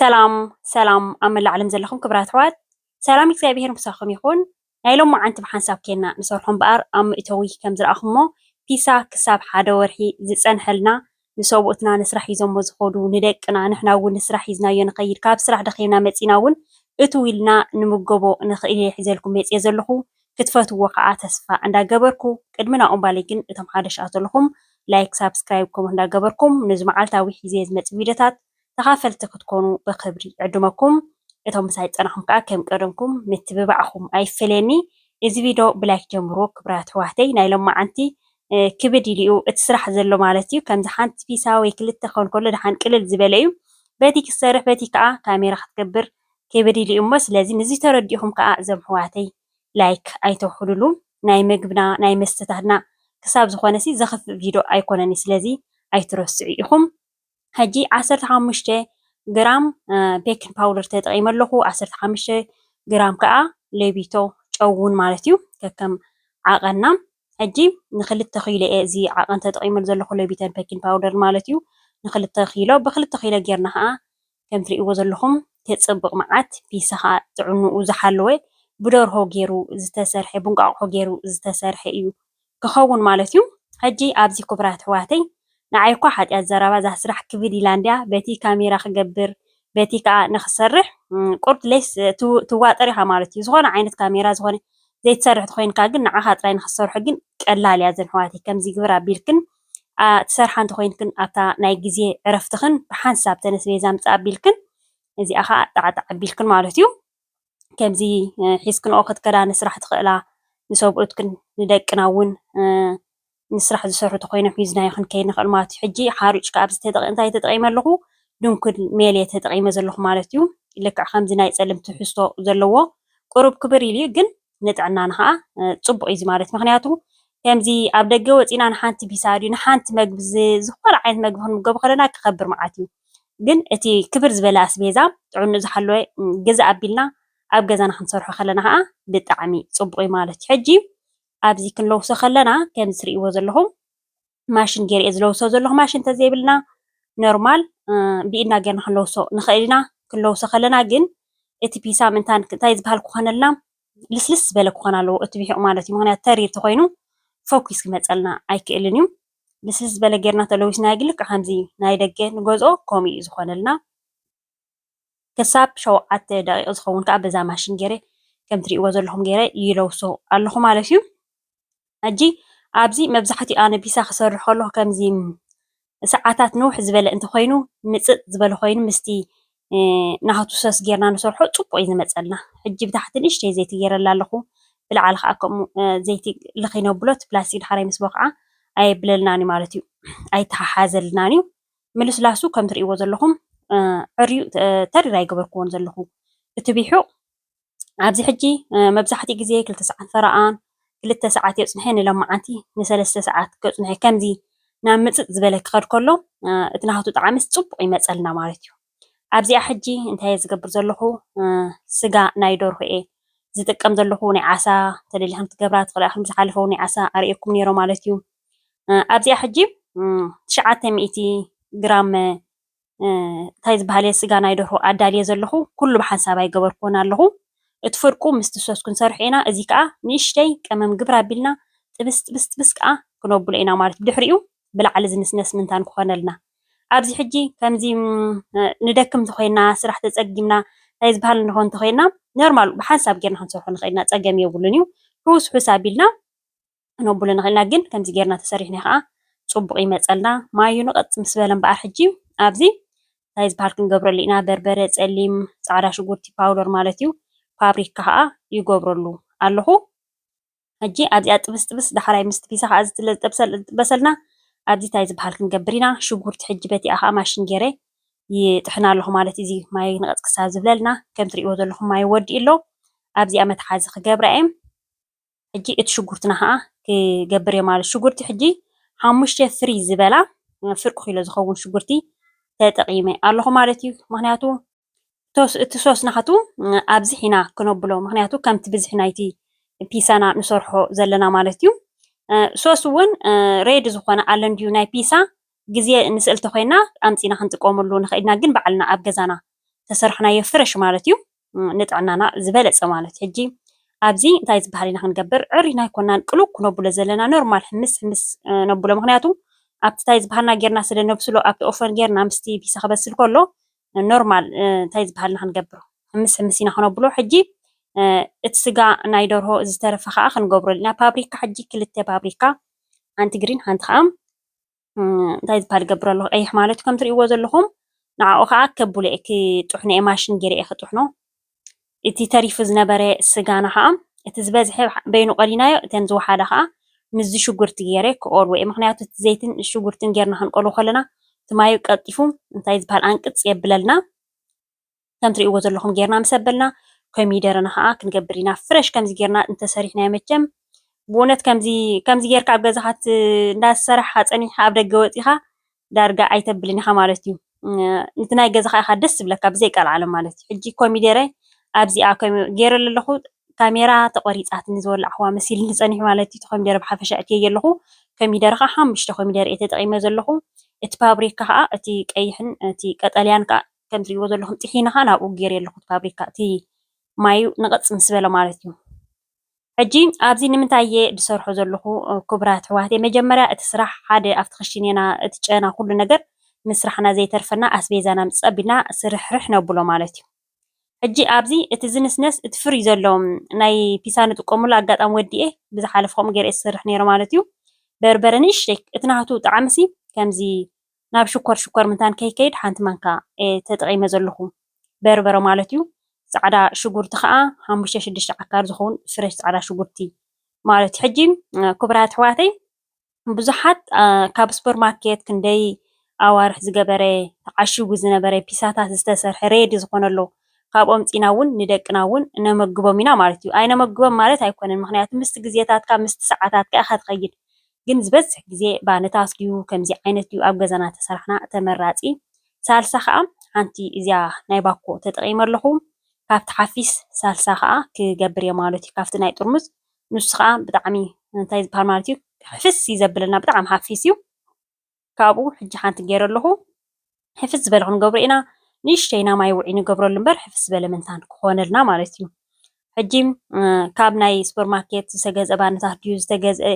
ሰላም ሰላም ኣብ መላእ ዓለም ዘለኹም ክብራት ኣሕዋት ሰላም እግዚኣብሄር ምሳኹም ይኹን። ናይ ሎማዓንቲ ብሓንሳብ ኬንና ንሰርሖ እምበኣር ኣብ መእተዊ ከም ዝረኣኹሞ ፒሳ ክሳብ ሓደ ወርሒ ዝጸንሐልና ንሰብኡትና ንስራሕ ሂዞሞ ዝኸዱ ንደቅና ንሕና ውን ንስራሕ ሂዝናዮ ንኸይድ ካብ ስራሕ ደኺምና መጺና ውን እትው ኢልና ንምገቦ ንኽእል ኢየ ሒዘልኩም መጽየ ዘለኹ ክትፈትውዎ ከኣ ተስፋ እንዳ ገበርኩ ቅድሚ ናብኡ እምባለይ ግን እቶም ሓደሽኣት ዘለኹም ላይክ ሳብስክራይብ ከምኡ እንዳ ገበርኩም ንዚ መዓልታዊ ሒዘየ ዝመጽእ ቪድዮታት ተኻፈልቲ ክትኮኑ ብኽብሪ ዕድመኩም እቶም ምሳይ ዝጸናሕኩም ከኣ ከም ቀደምኩም ምትብባዕኩም ኣይፈለየኒ እዚ ቪዶ ብላይክ ጀምርዎ ክብራት ኣሕዋተይ ናይ ሎማዓንቲ ክብድ ኢሉ እዩ እቲ ስራሕ ዘሎ ማለት እዩ ከምዚ ሓንቲ ፒሳ ወይ ክልተ ክኸውን ከሎ ደሓን ቅልል ዝበለ እዩ በቲ ክትሰርሕ በቲ ከኣ ካሜራ ክትገብር ክብድ ኢሉ እዩ እሞ ስለዚ ንዚ ተረዲእኹም ከኣ እዞም ኣሕዋተይ ላይክ ኣይተውሕዱሉ ናይ ምግብና ናይ መስተታትና ክሳብ ዝኾነሲ ዘኽፍእ ቪዶ ኣይኮነን እዩ ስለዚ ኣይትረስዑ ኢኹም። ሕጂ ዓሰርተ ሓሙሽተ ግራም ቤኪንግ ፓውደር ተጠቒመ ኣለኹ። ዓሰርተ ሓሙሽተ ግራም ከዓ ሌቢቶ ጨው እውን ማለት እዩ ከከም ዓቐንና። ሕጂ ንክልተ ኪሎ እየ እዚ ዓቐን ተጠቒመሉ ዘለኹ ሌቢቶን ቤኪንግ ፓውደር ማለት እዩ። ንክልተ ኪሎ ብክልተ ኪሎ ጌርና ከዓ ከም ትርእይዎ ዘለኹም ተፅብቕ መዓት ፒሳ ከዓ ጥዕንኡ ዝሓለወ ብደርሆ ገይሩ ዝተሰርሐ ብእንቋቑሖ ገይሩ ዝተሰርሐ እዩ ክከውን ማለት እዩ ሕጂ ኣብዚ ኩቡራት ኣሕዋተይ ንዓይ እኳ ሓጥያት ዘረባ እዛ ስራሕ ክብል ኢላ እንድያ በቲ ካሜራ ክገብር በቲ ከኣ ንክሰርሕ ቁርድ ሌስ ትዋጠር ኢካ ማለት እዩ ዝኮነ ዓይነት ካሜራ ዝኮነ ዘይትሰርሕ ተኮይንካ ግን ንዓካ ጥራይ ንክትሰርሑ ግን ቀላል እያ እዘን ኣሕዋተይ ከምዚ ግብር ኣቢልክን ትሰርሓ እንተኮይንክን ኣብታ ናይ ግዜ ዕረፍትክን ብሓንሳብ ተነስ ቤዛ ምጻእ ኣቢልክን እዚኣ ከኣ ጣዕጣዕ ኣቢልክን ማለት እዩ ከምዚ ሒዝክንኦ ክትከዳ ንስራሕ ትኽእላ፣ ንሰብኡትክን ንደቅና እውን ንስራሕ ዝሰርሑ እንተኾይኖም ሒዝናዮ ክንከይድ ንኽእል ማለት እዩ። ሕጂ ሓሩጭ ከኣ ኣብዚ ተጠቒ እንታይ ተጠቒመ ኣለኹ? ድንኩል ሜል እየ ተጠቒመ ዘለኹ ማለት እዩ። ልክዕ ከምዚ ናይ ጸሊም ትሕዝቶ ዘለዎ ቁሩብ ክብር ኢሉ እዩ፣ ግን ንጥዕናና ከኣ ጽቡቕ እዩ እዚ ማለት ምክንያቱ ከምዚ ኣብ ደገ ወጺና ንሓንቲ ቢሳ ድዩ ንሓንቲ መግቢ ዝ- ዝኾነ ዓይነት መግቢ ክንምገብ ከለና ክኸብር መዓት እዩ። ግን እቲ ክብር ዝበለ ኣስቤዛ ጥዕንኡ ዝሓለወ ግዝእ ኣቢልና ኣብ ገዛና ክንሰርሖ ከለና ከኣ ብጣዕሚ ጽቡቕ'ዩ ማለት እዩ። ሕጂ ኣብዚ ክንለውሶ ከለና ከምዚ ትርእይዎ ዘለኹም ማሽን ገይረ እየ ዝለውሶ ዘለኹ ማሽን ተዘይብልና ኖርማል ብኢድና ገይርና ክንለውሶ ንኽእል ኢና። ክንለውሶ ከለና ግን እቲ ፒሳም እንታይ ዝበሃል ክኾነልና ልስልስ ዝበለ ክኾን ኣለዎ እቲ ቢሒቑ ማለት እዩ። ምኽንያቱ ተሪር ተኾይኑ ፈኲስ ክመጸልና ኣይክእልን እዩ። ልስልስ ዝበለ ጌርና ተለዊስናዮ ግን ልክዕ ከምዚ ናይ ደገ ንገዝኦ ከምኡ እዩ ዝኾነልና። ክሳብ ሸውዓተ ደቂቕ ዝኸውን ከዓ በዛ ማሽን ገይረ ከም ትሪእዎ ዘለኹም ገይረ ይለውሶ ኣለኹ ማለት እዩ። ሕጂ ኣብዚ መብዛሕትኡ ኣነ ፒሳ ክሰርሕ ከለኹ ከምዚ ሰዓታት ንውሕ ዝበለ እንተኾይኑ ምፅፅ ዝበለ ኮይኑ ምስቲ ናህቱ ሰስ ጌርና ንሰርሖ ጽቡቅ እዩ ዝመጸልና ሕጂ ብታሕቲ ንእሽተይ ዘይቲ ጌረላ ኣለኩ ብላዕሊ ከኣ ከምኡ ዘይቲ ልኪ ነብሎ እቲ ፕላስቲክ ዳሕራይ ምስ ቦክዓ ኣየብለልናን እዩ ማለት እዩ ኣይተሓሓዘልናን እዩ ምልስላሱ ከም ትርእይዎ ዘለኩም ዕርዩ ተሪር ኣይገበርክዎን ዘለኩ እቲ ቢሑቅ ኣብዚ ሕጂ መብዛሕትኡ ግዜ ክልተ ሰዓት ፈረቓን ክልተ ሰዓት የጽንሐ ንሎማዓንቲ ንሰለስተ ሰዓት ከጽንሐ ከምዚ ናብ ምጽጥ ዝበለ ክኸድ ከሎ እቲ ናህቱ ጣዕምስ ጽቡቕ ይመጸልና ማለት እዩ። ኣብዚኣ ሕጂ እንታይ እየ ዝገብር ዘለኹ ስጋ ናይ ደርሆ እየ ዝጥቀም ዘለኹ ናይ ዓሳ ተደሊኹም ትገብራ ትኽእላ ኢኹም ዝሓለፈ እውን ናይ ዓሳ ኣርእየኩም ነይረ ማለት እዩ። ኣብዚኣ ሕጂ ትሽዓተ ሚእቲ ግራም እንታይ ዝበሃል እየ ስጋ ናይ ደርሆ ኣዳልየ ዘለኹ ኩሉ ብሓንሳብ ኣይገበርክዎን ኣለኹ እቲ ፍርቁ ምስቲ ሶስ ክንሰርሖ ኢና እዚ ከዓ ንእሽተይ ቀመም ግብር ኣቢልና ጥብስ ጥብስ ጥብስ ከዓ ክነብሎ ኢና ማለት ብድሕሪኡ ብላዕሊ ዝንስነስ ምንታን ክኾነልና ኣብዚ ሕጂ ከምዚ ንደክም እንተኾይና ስራሕ ተጸጊምና እንታይ ዝበሃል ንኾን እንተኾይና ኖርማል ብሓንሳብ ጌርና ክንሰርሖ ንኽእል ኢና ጸገም የብሉን እዩ ሑስ ሑስ ኣቢልና ክነብሎ ንኽእል ኢና ግን ከምዚ ጌርና ተሰሪሕና ከኣ ጽቡቅ ይመጸልና ማዩኑ ቀጥ ምስ በለ እምበኣር ሕጂ ኣብዚ እንታይ ዝበሃል ክንገብረሉ ኢና በርበረ ጸሊም ጻዕዳ ሽጉርቲ ፓውደር ማለት እዩ ፓብሪካ ከኣ ይገብረሉ ኣለኹ ሕጂ ኣብዚኣ ጥብስ ጥብስ ዳሕራይ ምስ ፒሳ ከኣ ዝትለ ዝጥበሰልና ኣብዚ እንታይ ዝበሃል ክንገብር ኢና ሽጉርቲ ሕጂ በቲኣ ከኣ ማሽን ጌረ ይጥሕና ኣለኹ ማለት እዚ ማይ ንቐጽ ክሳብ ዝብለልና ከም ትርእይዎ ዘለኹም ማይ ወዲኡ ኣሎ ኣብዚኣ መትሓዚ ክገብራ እየ ሕጂ እቲ ሽጉርትና ከኣ ክገብር እየ ማለት ሽጉርቲ ሕጂ ሓሙሽተ ፍሪ ዝበላ ፍርቂ ኪሎ ዝኸውን ሽጉርቲ ተጠቂመ ኣለኹ ማለት እዩ ምክንያቱ እቲ ሶስ ናቱ ኣብዚሕ ኢና ክነብሎ ምክንያቱ ከምቲ ብዝሒ ናይቲ ፒሳና ንሰርሖ ዘለና ማለት እዩ ሶስ እውን ሬድ ዝኾነ ኣለን ድዩ ናይ ፒሳ ግዜ ንስእልቲ ኮይና ኣምፂና ክንጥቀመሉ ንኽእልና ግን ባዕልና ኣብ ገዛና ተሰርሕናዮ ፍረሽ ማለት እዩ ንጥዕናና ዝበለጸ ማለት ሕጂ ኣብዚ እንታይ ዝበሃል ኢና ክንገብር ዕሪና ኣይኮናን ቅሉው ክነብሎ ዘለና ኖርማል ሕምስ ሕምስ ነብሎ ምክንያቱ ኣብቲ እንታይ ዝበሃልና ጌርና ስለ ነብስሎ ኣብቲ ኦፈን ጌርና ምስቲ ፒሳ ክበስል ከሎ ኖርማል እንታይ ዝበሃል ኢና ክንገብሮ ሕምስ ሕምስ ኢና ክነብሎ ሕጂ እቲ ስጋ ናይ ደርሆ ዝተረፈ ከዓ ክንገብረሉ ኢና ፓብሪካ ሕጂ ክልተ ፓብሪካ ሓንቲ ግሪን ሓንቲ ከዓ እንታይ ዝባሃል ይገብር ኣለኹ ቀይሕ ማለት ከም ትሪእዎ ዘለኹም ንዓኡ ከዓ ከብሎ እየ ክጥሕኖ እየ ማሽን ገይረ እየ ክጥሕኖ እቲ ተሪፉ ዝነበረ ስጋና ከዓ እቲ ዝበዝሐ በይኑ ቆሊናዮ እተን ዝወሓዳ ከዓ ምስዚ ሽጉርቲ ገይረ ክቆልዎ እየ ምክንያቱ እቲ ዘይትን ሽጉርትን ገይርና ክንቆልዎ ከለና እቲ ማዩ ቀልጢፉ እንታይ ዝበሃል ኣንቅፅ የብለልና ከም ትሪእዎ ዘለኹም ጌርና ምስ ኣበልና ኮሚደረና ኸኣ ክንገብር ኢና ፍረሽ ከምዚ ጌርና እንተሰሪሕናዮ መቸም ብእውነት ከምዚ ከምዚ ጌርካ ኣብ ገዛኻ እንዳሰራሕኻ ጸኒሕካ ኣብ ደገ ወጺኻ ዳርጋ ኣይተብልን ኢኻ ማለት እዩ እቲ ናይ ገዛኻ ኢኻ ደስ ዝብለካ ብዘይ ቀልዓለ ማለት እዩ ሕጂ ኮሚደረ ኣብዚኣ ጌረ ኣለኹ ካሜራ ተቖሪጻትኒ ዝወላዕኹዋ መሲልኒ ጸኒሑ ማለት እዩ ኮሚደረ ብሓፈሻ እትየዮ ኣለኹ ኮሚደረ ከዓ ሓሙሽተ ኮሚደረ እየ ተጠቒመ ዘለኹ እቲ ፓብሪካ ከዓ እቲ ቀይሕን እቲ ቀጠልያን ከዓ ከም እትሪእዎ ዘለኹም ጢሒኑ ኸኣ ናብኡ ገይረዮ ኣለኹ እቲ ፋብሪካ እቲ ማዩ ንቐፅ ምስ በለ ማለት እዩ። ሕጂ ኣብዚ ንምንታይ እየ ዝሰርሖ ዘለኹ ክቡራት ኣሕዋተይ፣ መጀመርያ እቲ ስራሕ ሓደ ኣብቲ ክሽኔና እቲ ጨና ኩሉ ነገር ምስራሕና ዘይተርፈና ኣስቤዛና ምፅፅ ኣቢልና ስርሕርሕ ነብሎ ማለት እዩ። ሕጂ ኣብዚ እቲ ዝንስነስ እቲ ፍሪይ ዘሎ ናይ ፒሳ ንጥቀመሉ ኣጋጣሚ ወዲኤ ብዝሓለፈ ከምኡ ገይረ እየ ዝሰርሕ ነይረ ማለት እዩ። በርበረ ንእሽተይ እቲ ናቱ ጣዕሚሲ ከምዚ ናብ ሽኮር ሽኮር ምታን ከይከይድ ሓንቲ ማንካ እየ ተጠቂመ ዘለኩ በርበረ ማለት እዩ ፃዕዳ ሽጉርቲ ከዓ ሓሙሽተ ሽዱሽተ ዓካር ዝከውን ፍረሽ ፃዕዳ ሽጉርቲ ማለት እዩ ሕጂ ክቡራት ኣሕዋተይ ብዙሓት ካብ ስፖር ማርኬት ክንደይ ኣዋርሕ ዝገበረ ተዓሽጉ ዝነበረ ፒሳታት ዝተሰርሐ ሬዲ ዝኮነ ኣሎ ካብ ኦምፂና እውን ንደቅና እውን ነመግቦም ኢና ማለት እዩ ኣይነመግቦም ማለት ኣይኮነን ምክንያቱ ምስቲ ግዜታትካ ምስቲ ሰዓታትካ ኢካ ትከይድ ግን ዝበዝሕ ግዜ ባኒታት ድዩ ከምዚ ዓይነት ድዩ ኣብ ገዛና ተሰራሕና ተመራጺ ሳልሳ ከኣ ሓንቲ እዚኣ ናይ ባኮ ተጠቂመ ኣለኩ ካብቲ ሓፊስ ሳልሳ ከኣ ክገብር እየ ማለት እዩ ካብቲ ናይ ጥርሙዝ ንሱ ከኣ ብጣዕሚ እንታይ ዝብሃል ማለት እዩ ሕፍስ እዩ ዘብለና ብጣዕሚ ሓፊስ እዩ። ካብኡ ሕጂ ሓንቲ ጌረ ኣለኹ ሕፍስ ዝበለ ክንገብሮ ኢና ንእሽተይ ኢና ማይ ውዑይ ንገብረሉ እምበር ሕፍስ ዝበለ ምንታን ክኾነልና ማለት እዩ። ሕጂ ካብ ናይ ሱፐር ማርኬት ዝተገዝአ ባነታት ድዩ ዝተገዝአ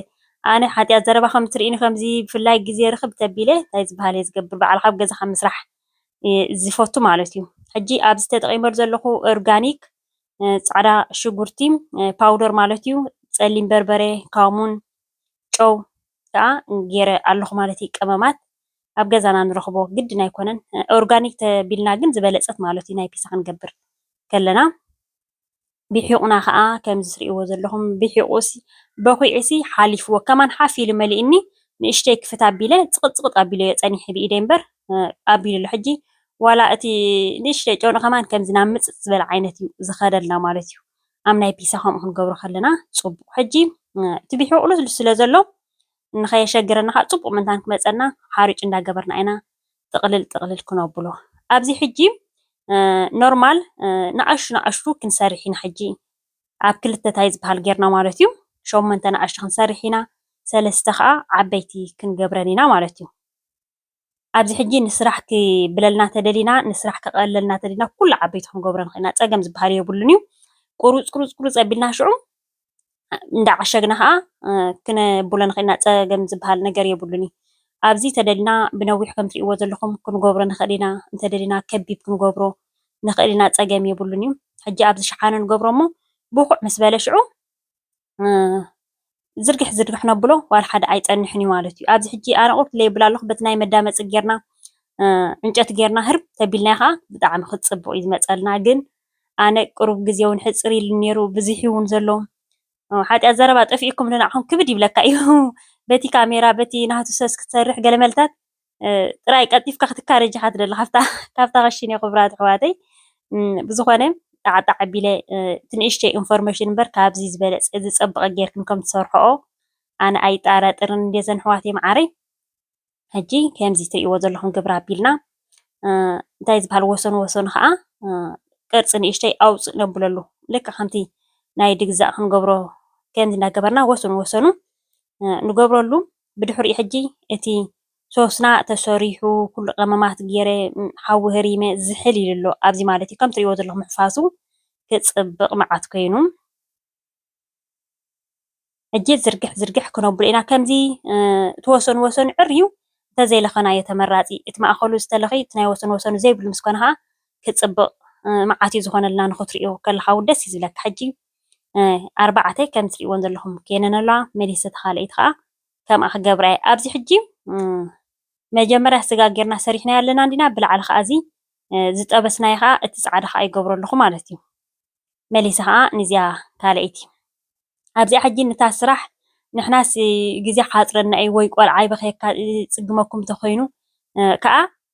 ኣነ ሓጢኣት ዘረባ ከም ትርእኒ ከምዚ ብፍላይ ግዜ ርኽብ ተቢለ እንታይ ዝበሃል እየ ዝገብር በዓል ካብ ገዛ ካብ ምስራሕ ዝፈቱ ማለት እዩ። ሕጂ ኣብዚ ተጠቒመሉ ዘለኹ ኦርጋኒክ ፃዕዳ ሽጉርቲ ፓውደር ማለት እዩ፣ ፀሊም በርበረ፣ ካሙን፣ ጨው ከኣ ጌረ ኣለኹ ማለት እዩ ቀመማት ኣብ ገዛና ንረኽቦ ግድን ኣይኮነን ኦርጋኒክ ተቢልና ግን ዝበለጸት ማለት እዩ ናይ ፒሳ ክንገብር ከለና ቢሒቑና ከኣ ከምዚ ትርእይዎ ዘለኹም ቢሒቑሲ በኺዑሲ ሓሊፍዎ ከማን ሓፍ ኢሉ መሊእኒ ንእሽተይ ክፍት ኣቢለ ጽቕጽቕጥ ኣቢለዮ ጸኒሐ ብኢደይ እምበር ኣቢሉ ኣሎ ሕጂ ዋላ እቲ ንእሽተይ ጨኑ ከማን ከምዚ ናብ ምጽጽ ዝበለ ዓይነት እዩ ዝኸደልና ማለት እዩ ኣብ ናይ ፒሳ ከምኡ ክንገብሮ ከለና ፅቡቕ ሕጂ እቲ ቢሒ ቁሉ ስለ ዘሎ ንኸየሸግረና ከዓ ፅቡቕ ምንታን ክመፀና ሓሪጭ እንዳገበርና ኢና ጥቕልል ጥቕልል ክነብሎ ኣብዚ ሕጂ ኖርማል ንኣሽቱ ንኣሽቱ ክንሰርሕ ኢና ሕጂ ኣብ ክልተ ታይ ዝበሃል ጌርና ማለት እዩ ሸሞንተ ንኣሽቱ ክንሰርሕ ኢና ሰለስተ ከዓ ዓበይቲ ክንገብረን ኢና ማለት እዩ ኣብዚ ሕጂ ንስራሕ ክብለልና ተደሊና ንስራሕ ከቐለልና ተደሊና ኩሉ ዓበይቲ ክንገብሮ ንኽእል ኢና ጸገም ዝበሃል የብሉን እዩ ቁሩጽ ቁሩጽ ቁሩጽ ኣቢልና ሽዑ እንዳዓሸግና ከዓ ክነብሎ ንኽእል ኢና ጸገም ዝበሃል ነገር የብሉን እዩ ኣብዚ ተደሊና ብነዊሕ ከም ትሪእዎ ዘለኹም ክንገብሮ ንኽእል ኢና እንተደሊና ከቢብ ክንገብሮ ንኽእል ኢና ጸገም የብሉን እዩ ሕጂ ኣብዚ ሸሓነ ንገብሮ እሞ ብቑዕ ምስ በለ ሽዑ ዝርግሕ ዝርግሕ ነብሎ ዋላ ሓደ ኣይጸንሕን እዩ ማለት እዩ። ኣብዚ ሕጂ ኣረቑት ለይብላ ኣለኹ በቲ ናይ መዳመጺ ጌርና ዕንጨት ጌርና ህርብ ተቢልና ከኣ ብጣዕሚ ክጽብቕ እዩ ዝመጸልና ግን ኣነ ቅሩብ ግዜ እውን ሕጽር ኢሉ ነይሩ ብዙሕ እውን ዘሎ ሓጢኣት ዘረባ ጠፊኡኩም ንዓኹም ክብድ ይብለካ እዩ በቲ ካሜራ በቲ ናህቱ ሰስ ክትሰርሕ ገለ መልታት ጥራይ ቀልጢፍካ ክትካረ ዲካ ትደሊ ካብታ ክሽነ ክቡራት ኣሕዋተይ ብዝኮነ ጣዕጣዕ ኣቢለ እቲ ንእሽተይ ኢንፎርሜሽን እምበር ካብዚ ዝበለፀ ዝፀበቀ ጌርክን ከም ትሰርሕኦ ኣነ ኣይጣራጠርን እንድየ ዘን ኣሕዋተይ መዓረይ ሕጂ ከምዚ ትሪእዎ ዘለኹም ግብሪ ኣቢልና እንታይ ዝበሃል ወሰኑ ወሰኑ ከዓ ቅርፂ ንእሽተይ ኣውፅእ ነብለሉ ልክ ከምቲ ናይ ድግዛእ ክንገብሮ ከምዚ እናገበርና ወሰኑ ወሰኑ ንገብረሉ ብድሕሪኡ ሕጂ እቲ ሶስና ተሰሪሑ ኩሉ ቀመማት ጌረ ሓዊ ህሪመ ዝሕል ኢሉ ኣሎ ኣብዚ ማለት እዩ ከም ትሪእዎ ዘለኹም ምሕፋሱ ክጽብቅ መዓት ኮይኑ ሕጂ ዝርግሕ ዝርግሕ ክነብሎ ኢና ከምዚ እቲ ወሰኑ ወሰኑ ዕርዩ እንተዘይ ለኸናዮ ተመራጺ እቲ ማእኸሉ ዝተለኸዩ እቲ ናይ ወሰኑ ወሰኑ ዘይብሉ ምስ ኮነ ከኣ ክጽብቅ መዓት እዩ ዝኾነልና ንኽትሪኦ ከለኻ ውን ደስ እዩ ዝብለካ ሕጂ ኣርባዕተ ከም እትሪእወን ዘለኹም ኮይነን ኣለዋ። መሊሰ እታ ካልኣይቲ ከኣ ከምኣ ክገብራ እየ። ኣብዚ ሕጂ መጀመርያ ስጋ ጌርና ሰሪሕናዮ ኣለና እንዲና፣ ብላዕሊ ከኣ እዚ ዝጠበስናዮ ከኣ እቲ ጻዕዳ ከኣ ይገብሮ ኣለኹ ማለት እዩ። መሊሰ ከኣ ንዚኣ ካልኣይቲ ኣብዚኣ ሕጂ ነታ ስራሕ ንሕናስ ግዜ ክሓጽረና እዩ ወይ ቆልዓ ይበኽየካ ይጽግመኩም እንተኾይኑ ከኣ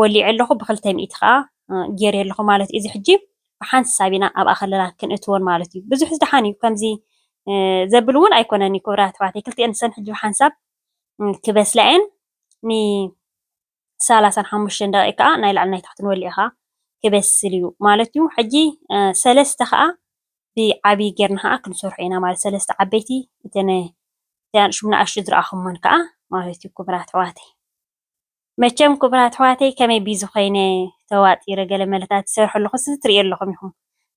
ወሊዐ ኣለኹ ብኽልተ ሚእቲ ከኣ ጌሬ ኣለኹ ማለት እዩ። እዚ ሕጂ ብሓንቲ ሳብ ኢና ኣብኣ ከለና ክንእትወን ማለት እዩ። ብዙሕስ ደሓን እዩ ከምዚ ዘብል እውን ኣይኮነን እዩ ክብራት ኣሕዋተይ ክልቲኤን ሰን ሕጂ ብሓንሳብ ክበስላ እየን ን ሰላሳን ሓሙሽተን ደቂቕ ከኣ ናይ ላዕሊ ናይ ታሕትን ወሊዐ ከኣ ክበስል እዩ ማለት እዩ። ሕጂ ሰለስተ ከኣ ብዓብዪ ጌርና ከኣ ክንሰርሖ ኢና ማለት ሰለስተ ዓበይቲ እተን ንኣሽቱ ዝረኣኹመን ከኣ ማለት እዩ ክብራት ኣሕዋተይ። መቸም ኩቡራት ኣሕዋተይ ከመይ ቢዚ ኮይነ ተዋጢረ ገለ መለታት ዝሰርሖ ኣለኩ ስዚ ትርእዮ ኣለኩም ኢኩም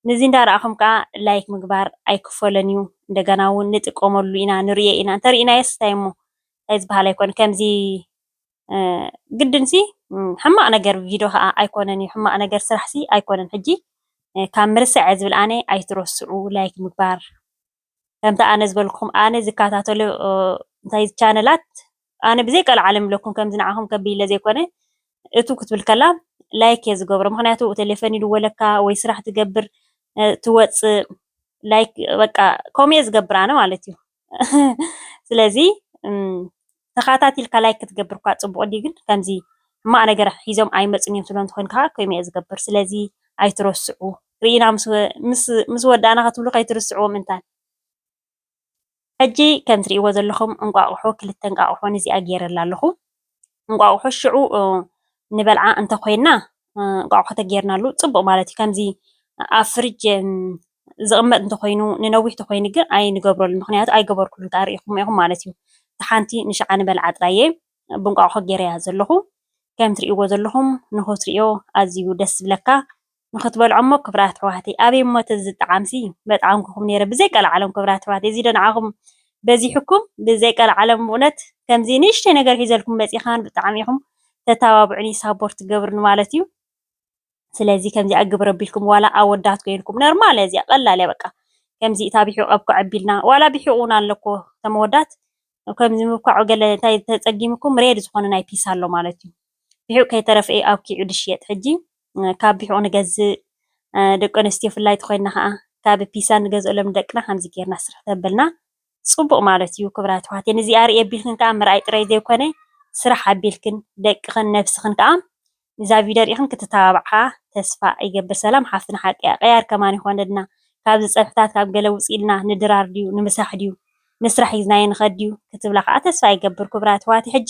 ንዚ እንዳራኣኩም ከኣ ላይክ ምግባር ኣይክፈሎን እዩ እንደገና ውን ንጥቀመሉ ኢና ንርእዮ ኢና እንተሪኢናዮስ እንታይ እሞ እንታይ ዝባሃል ኣይኮን ከምዚ ግድንሲ ሕማቅ ነገር ቪዶ ከኣ ኣይኮነን እዩ ሕማቅ ነገር ስራሕሲ ኣይኮነን ሕጂ ካብ ምርሳዐ ዝብል ኣነ ኣይትረስዑ ላይክ ምግባር ከምቲ ኣነ ዝበልኩኹም ኣነ ዝከታተሎ እንታይ ቻነላት ኣነ ብዘይ ቀልዓለም ብለኩም ከምዚ ንዓኹም ከቢለ ዘይኮነ እቱ ክትብል ከላ ላይክ እየ ዝገብሮ ምክንያቱ ቴሌፎን ይድወለካ ወይ ስራሕ ትገብር ትወፅእ ላይክ በቃ ከምኡ እየ ዝገብር ኣነ ማለት እዩ ስለዚ ተኻታቲልካ ላይክ ክትገብር እኳ ጽቡቅ እንድዩ ግን ከምዚ ሕማቅ ነገር ሒዞም ኣይመጹን እዮም ትብሎም ተኮይንካ ከኣ ከምኡ እየ ዝገብር ስለዚ ኣይትረስዑ ሪኢና ምስ ወዳእና ክትብሉ ከይትርስዕዎም እንታን ሕጂ ከም ትሪኢዎ ዘለኩም እንቋቁሖ ክልተ እንቃቁሖ ንዚኣ ጌረላ ኣለኩ እንቋቁሖ ሽዑ ንበልዓ እንተ ኮይና እንቋቁሖ ተጌርናሉ ጽቡቅ ማለት እዩ ከምዚ ኣብ ፍርጅ ዝቕመጥ እንተኾይኑ ንነዊሕ ተኾይኑ ግን ኣይንገብረሉን ምኽንያቱ ኣይገበርኩሉን ክኣ ርኢኹማ ኢኹም ማለት እዩ እታ ሓንቲ ንሽዓ ንበልዓ ጥራይ እየ ብእንቋቑሖ ጌረያ ዘለኹ ከም ትርእይዎ ዘለኹም ንኽትርእዮ ኣዝዩ ደስ ዝብለካ ንኽትበልዖ እሞ ክብራት ኣሕዋተይ ኣበይ እሞ ተዝጣዓምሲ መጥዓምኩኹም ኔረ ብዘይ ቀልዓለም ክብራት ኣሕዋተይ እዚዶ ንዓኹም በዚሑኩም ብዘይ ቀልዓለም ብእውነት ከምዚ ንእሽተይ ነገር ሒዘልኩም መጺኻን ብጣዕሚ ኢኹም ተታባብዑኒ ሳቦርት ትገብርኒ ማለት እዩ ስለዚ ከምዚኣ ግብሪ ኣቢልኩም ዋላ ኣወዳት ኮይንኩም ነርማል እያ እዚኣ ቀላል እያ በቃ ከምዚ እታ ቢሒቑ ኣብኩዕ ኣቢልና ዋላ ቢሒቑ እውን ኣሎ እኮ እቶም ኣወዳት ከምዚ ምብኳዑ ገለ እንታይ ተጸጊምኩም ሬድ ዝኾነ ናይ ፒስ ኣሎ ማለት እዩ ቢሒቑ ከይተረፈ እዩ ኣብኪዑ ድሽየጥ ሕጂ ካብ ቢሒቑ ንገዝእ ደቂ ኣንስትዮ ፍላይ ተኮይንና ከዓ ካብ ፒሳ ንገዝኦ ለምደቅና ከምዚ ጌርና ስርሕ ተበልና ጽቡቅ ማለት እዩ ክብራት ኣሕዋተይ ንዚኣ ርእየ ኣቢልክን ከኣ ምርኣይ ጥራይ ዘይኮነ ስራሕ ኣቢልክን ደቅክን ነብስክን ከኣ ንዛ ቪድዮ ሪኢክን ክትተባብዓ ተስፋ ይገብር ሰላም ሓፍትና ሓቂ እያ ቀያር ከማን ይኮነልና ካብዚ ጸብሕታት ካብ ገለ ውጽእ ኢልና ንድራር ድዩ ንምሳሕ ድዩ ንስራሕ ሒዝናዮ ንከድ ድዩ ክትብላ ከኣ ተስፋ ይገብር ክብራት ኣሕዋተይ ሕጂ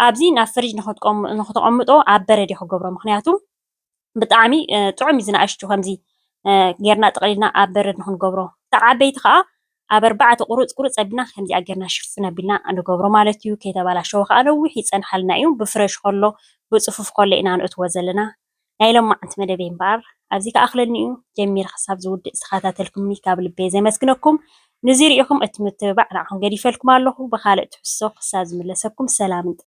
ኣብዚ ናብ ፍርጅ ንክትቆምንክተቀምጦ ኣብ በረድ እየ ክገብሮ ምክንያቱ ብጣዕሚ ጥዑም እዩ ዝንኣሽቱ ከምዚ ጌርና ጠቕሊልና ኣብ በረድ ንክንገብሮ እታ ዓበይቲ ከዓ ኣብ ኣርባዕተ ቁሩፅ ቁሩፅ ኣቢልና ከምዚኣ ጌርና ሽፍን ኣቢልና ንገብሮ ማለት እዩ ከይተባላሸወ ከዓ ነዊሕ ይፀንሓልና እዩ ብፍረሽ ከሎ ብፅፉፍ ከሎ ኢና ነእትዎ ዘለና ናይ ሎማዓንቲ መደበይ እምበኣር ኣብዚ ክኣኽለኒ እዩ ጀሚረ ክሳብ ዝውድእ ዝተኸታተልኩምኒ ካብ ልበይ ዘመስግነኩም ንዙይ ሪኢኹም እቲ ምትብባዕ ንዓኹም ገዲፈልኩም ኣለኹ ብኻልእ ትሕዝቶ ክሳብ ዝምለሰኩም ሰላምን